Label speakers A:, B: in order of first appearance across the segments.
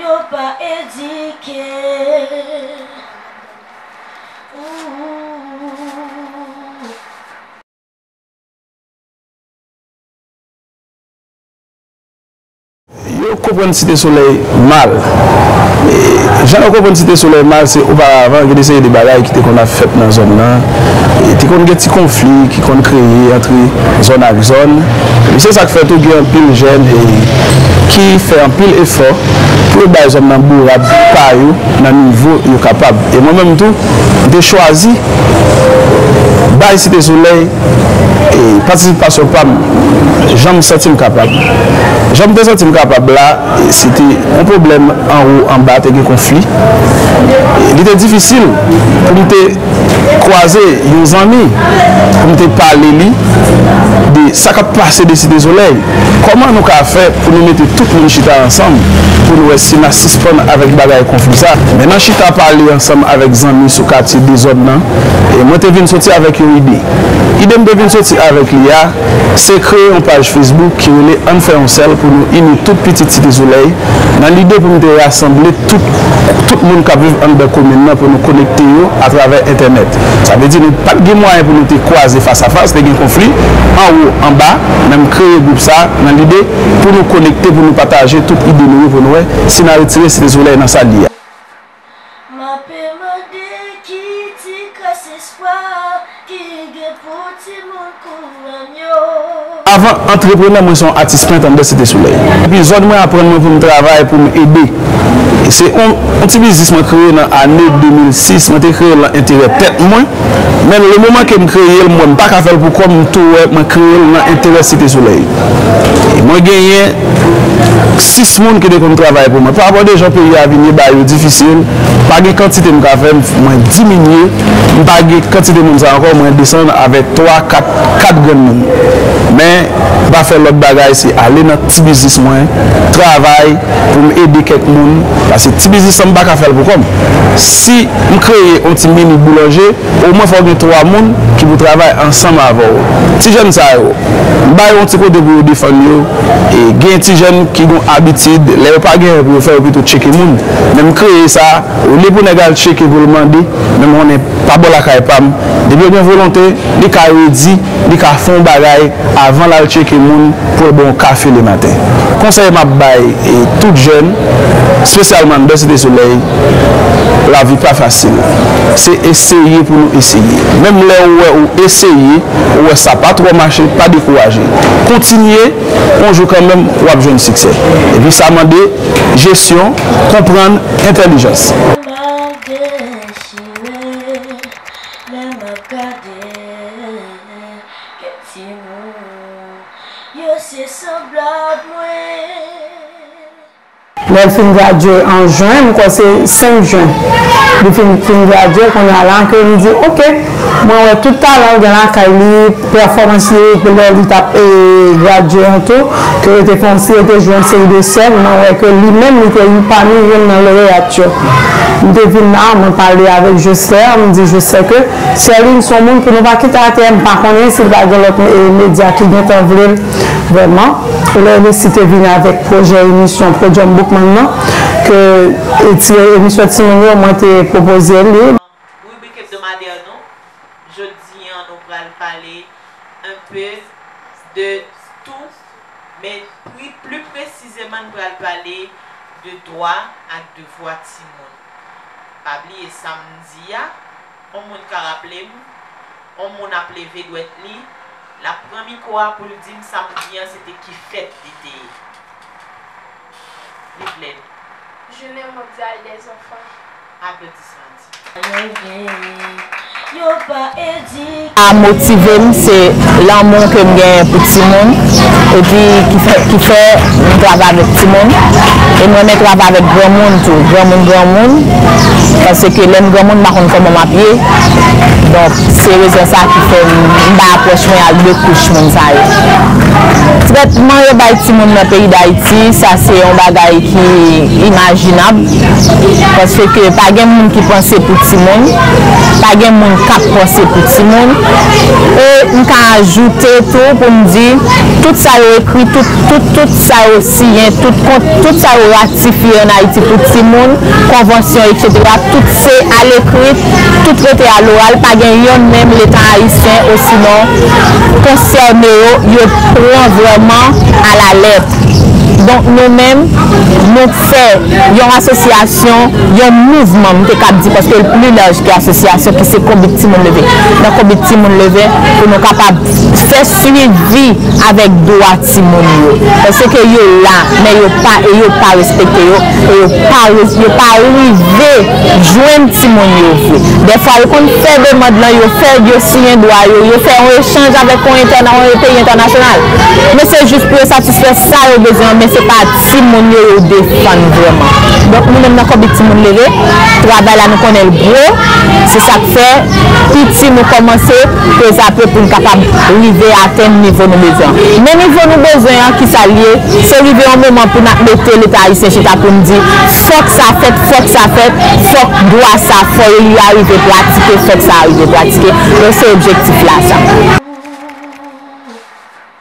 A: yo pa
B: edike ooh. Yo konprann Site Solèy mal. Jan yo konprann Site Solèy mal se oparavan gen de seri de bagay ki te konn ap fèt nan zòn nan. Te konn gen ti konfli ki konn kreye antre zòn ak zòn. Epi se sa k fè tou gen anpil jèn ki fè anpil efò pou yo bay zòn nan bourad pa yo nan nivo yo kapab. E mwen menm tou, m te chwazi bay Site Solèy patisipasyon pa m jan m santi m kapab. Jan m te santi m kapab la, se te yon pwoblèm anwo anba, te gen konfli. Li te difisil pou m te. kwaze yon zanmi pou m te pale li de sa k ap pase de Site Solèy. Kòman nou ka fè pou nou mete tout moun chita ansanm pou n wè si n a sispann avèk bagay konfli sa? Men nan chita pale ansanm avèk zanmi sou katye dezòd nan, mwen te vin soti avèk yon ide. Ide m te vin soti avèk li a, Se kreye yon paj Facebook ki rele Ann fè yon sèl pou nou ini tout pitit Site Solèy nan lide pou nou te rasanble tout tout moun k ap viv anndan komin nan pou nou konekte yo atravè entènèt. Sa vle di nou pa t gen mwayen pou nou te kwaze fas a fas, te gen konfli anwo anba men m kreye gwoup sa nan lide pou nou konekte pou nou pataje tout ide nou yo pou nou wè si n a retire Site Solèy nan sa l ye a. M ape mande ki ti kras espwa ki gen pou timoun kouran m yo. Avan antreprenè mwen se yon atis pent anndan Site Solèy. Depi zòn mwen aprann mwen pou m travay pou m ede. Se yon ti biznis mwen kreye nan ane 2006, mwen te kreye l nan enterè tèt mwen men le moman ke m kreye l m wè m pa ka fè l pou kò m m tou wè mwen kreye l nan enterè Site Solèy e mwen genyen 6 moun ki te konn travay pou mwen pa abòde jan peyi a vin ye bagay yo difisil pa gen kantite m ka fè mwen diminye m pa gen kantite moun sa ankò mwen desann avèk 3 4 4 granmoun men m pa fè lòt bagay se ale nan ti biznis mwen travay pou m ede kèk moun paske ti biznis lan m pa ka fè l pou kò m si m kreye yon ti mini boulanje. Omwen fò w gen 3 moun ki pou travay ansanm avè w. Ti jèn sa yo, ba yo yon ti kote pou yo defann yo. Gen ti jèn ki gen yon abitid, lè yo pa gen anyen pou yo fè, yo pito tcheke moun. Men m kreye sa, olye pou nèg al tcheke pou l mande, men m konnen pa bò lakay pa m, depi yo gen volonte, li ka redi. Li ka fon bagay avan lal tcheke moun poul bon kafe le maten. Konsèy map bay tout jèn spesyalman andan site solèy lavi pa fasil se eseye pou nou eseye menm lè ou wè ou eseye ou wè sa pa trò mache pa dekouraje kontinye on jou kanmenm wap jwenn siksè epi sa mande jesyon konprann entèlijans. Kèk
C: timoun yo se sanblab mwen. Lè l fin gradye an jen, m kwè se 5 jen li fin gradye, kounye a la ke li di ok mwen wè tout talan l gen lakay li, pèfòmans li ke lè li t ap gradye an tou ke yo te fè yon seri, yo te jwe yon seri de sèn, mwen wè ke li menm li te yon pami youn nan loreyat yo. M te vin la, mwen pale avèk Joslè, m di Joslè ke. Sherline son moun pou nou pa kite atè m pa konnen si l pa gen lòt medya ki gentan vle l vrèman lè Resi te vin avèk pwojè emisyon Podium Boukman nan ke ti emisyon timoun yo mwen te pwopoze l li. Ribrik
D: ebdomadè nou jodi an nou pral pale un peu de tout men pli presizeman n pral pale de dwa ak devwa timoun. Pa bliye sam di a, on moun ka raplem, on moun ap leve dwèt li, lap pran miko a poul dim sam di an se te ki fèt li te ye. Viv lèd. Jounen
E: mondyal dèzanfan.
D: Aplodisman di.
E: A motive m se lanmou ke m genyen pou timoun epi ki fè m travay avèk timoun e m renmen travay avèk granmoun tou granmoun granmoun paske lè m granmoun m pa konn kòman m ap ye donk se rezon sa ki fè m bay apwòch mwen ak de kouch moun sa yo trètman yo bay timoun nan peyi dayiti sa se yon bagay ki imajinab. Paske pa gen moun ki panse pou timoun, pa gen moun k ap panse pou timoun. E m ka ajoute tou pou m di, tout sa yo ekri, tout, tout, tout sa yo siyen, tout kont, tout sa yo ratifye ann Ayiti pou timoun, konvansyon eksetera, tout se alekri, tout rete aloral, pa gen yonn menm Leta ayisyen osinon konsène yo, yo pran vrèman alalèt. Donk nou menm, nou. Fè yon asosyasyon, yon mouvman m te kab di paske l pli laj ke asosyasyon ki se Konbit Timoun Leve. Nan Konbit Timoun Leve pou nou kapab fè swivi avèk dwa timoun yo. Paske yo la men yo pa e yo pa respekte yo e yo pa yo pa rive jwenn timoun yo vre. Dèfwa yo konn fè demand lan, yo fè yo siyen dwa yo, yo fè yon echanj avèk yon entèna yon peyi entènasyonal. Men se jis pou yo satisfè sa yo bezwen an men se pa Si moun yo ye ou defann vrèman. Donk nou menm nan Konbit Timoun Leve, travay la nou konnen l gwo, se sa k fè piti nou kòmanse pezape pou n kapab rive atenn nivo nou bezwen an. Men nivo nou bezwen an, kisa l ye? Se rive yon moman pou n ap mete Leta ayisyen chita pou n di, fòk sa fèt, fòk sa fèt, fòk dwa sa, fò yo li a rive pratike, fòk sa a rive pratike. Donk se objektif la sa.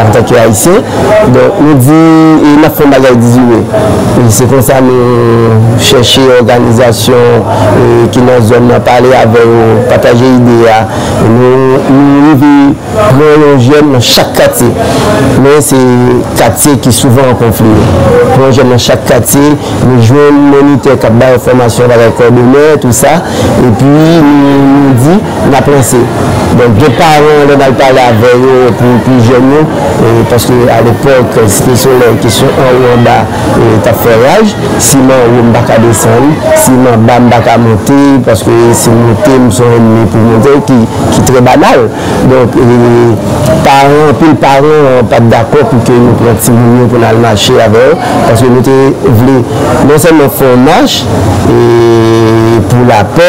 F: Antanke Ayisyen, donk nou di e n ap fè yon bagay 18 me. Se konsa nou chèche òganizasyon ki nan zòn nan, pale avè yo, pataje ide a. Nou rive pran yon jèn nan chak katye. Men se katye ki souvan an konfli yo. Pran yon jèn nan chak katye, nou jwenn monitè k ap ba yo fòmasyon bagay kòdonè, tou sa. Epi nou di. N ap lanse. Donk gen paran lè n al pale avè yo pou pi jèn yo paske alepòk Site Solèy kesyon anwo anba t ap fè raj. Si m anwo m pa ka desann, si m anba m pa ka monte paske si m monte m son ènmi pou mwen vre ki trè banal. Donk paran anpil paran pa t dakò pou ke nou pran timoun yo pou n al mache avè yo paske nou te vle non sèlman fè yon mach pou lapè,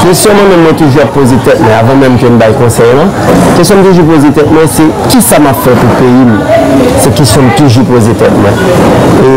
F: Kesyon mwen menm mwen toujou ap poze tèt mwen avan menm ke m bay konsèy lan, kesyon m toujou poze tèt mwen se kisa m ap fè pou peyi m? Se kesyon m toujou poze tèt mwen. E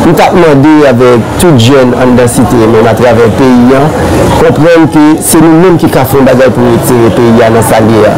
F: m t ap mande avèk tout jèn anndan site menm atravè peyi an konprann ke se nou menm ki ka fè yon bagay pou retire peyi a nan sa l ye a.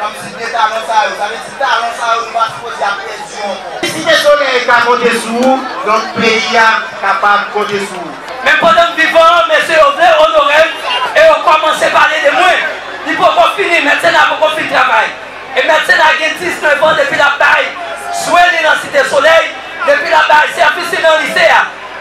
G: Kom si de talan sa yo. Sa vle di talan sa yo nou pa sipoze ap pèdi anko. Site Solèy ka konte sou ou donk peyi a kapab konte sou ou. Menm pandan m vivan
H: an mesye yo vle onore m e yo komanse pale de mwen. Li poko fini, Mètsena poko fin travay. E Mètsena gen 19 an depi l ap bay swen li nan Site Solèy, depi l ap bay sèvis li nan Lise a.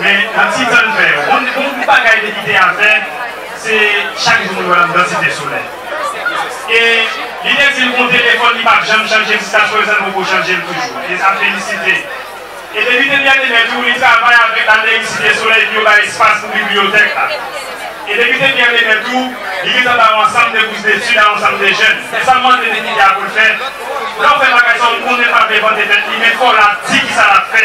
I: Men nan ti tan n fè yo, bon gwoup bagay li kite a fè, se chak jou mwen wè l an nan Site Solèy. E li te di m gon telefòn li pa t janm chanje jiska jwèzè l poko chanje l toujou. E sa felisite. E depi te Byèneme tou, li travay avèk Aleris Site Solèy pou yo bay espas pou bibliyotèk la. E depi te Byèneme tou, li gen tan ba yon ansanm de bous detid a yon ansanm de jèn. E sa m mande li kite a pou l fè, lè w fè bagay sa w konnen l pa vle vante tèt li men fò w la di kisa l ap fè.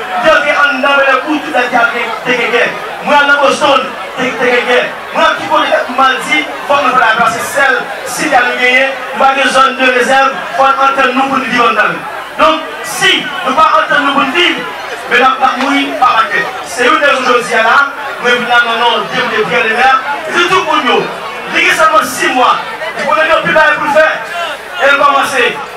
G: Yo te anndan Bèlèkou tout lèt Gagè te gen gè. Mwen al nan Boston te te gen gè. Mwen ap ki kote tèt m mal di fò mwen fè la plas se sèl si gè nou genyen nou pa gen zòn de rezèv fò n antann nou pou n viv anndan l. Donk si nou pa antann nou pou n viv men n ap n ap mouri pa pakè. Se youn rezon jodi a la mwen vin la nan non Depite Pierre Lemaire li di tout moun yo li gen sèlman 6 mwa li konnen gen anpil bagay pou l fè e l kòmanse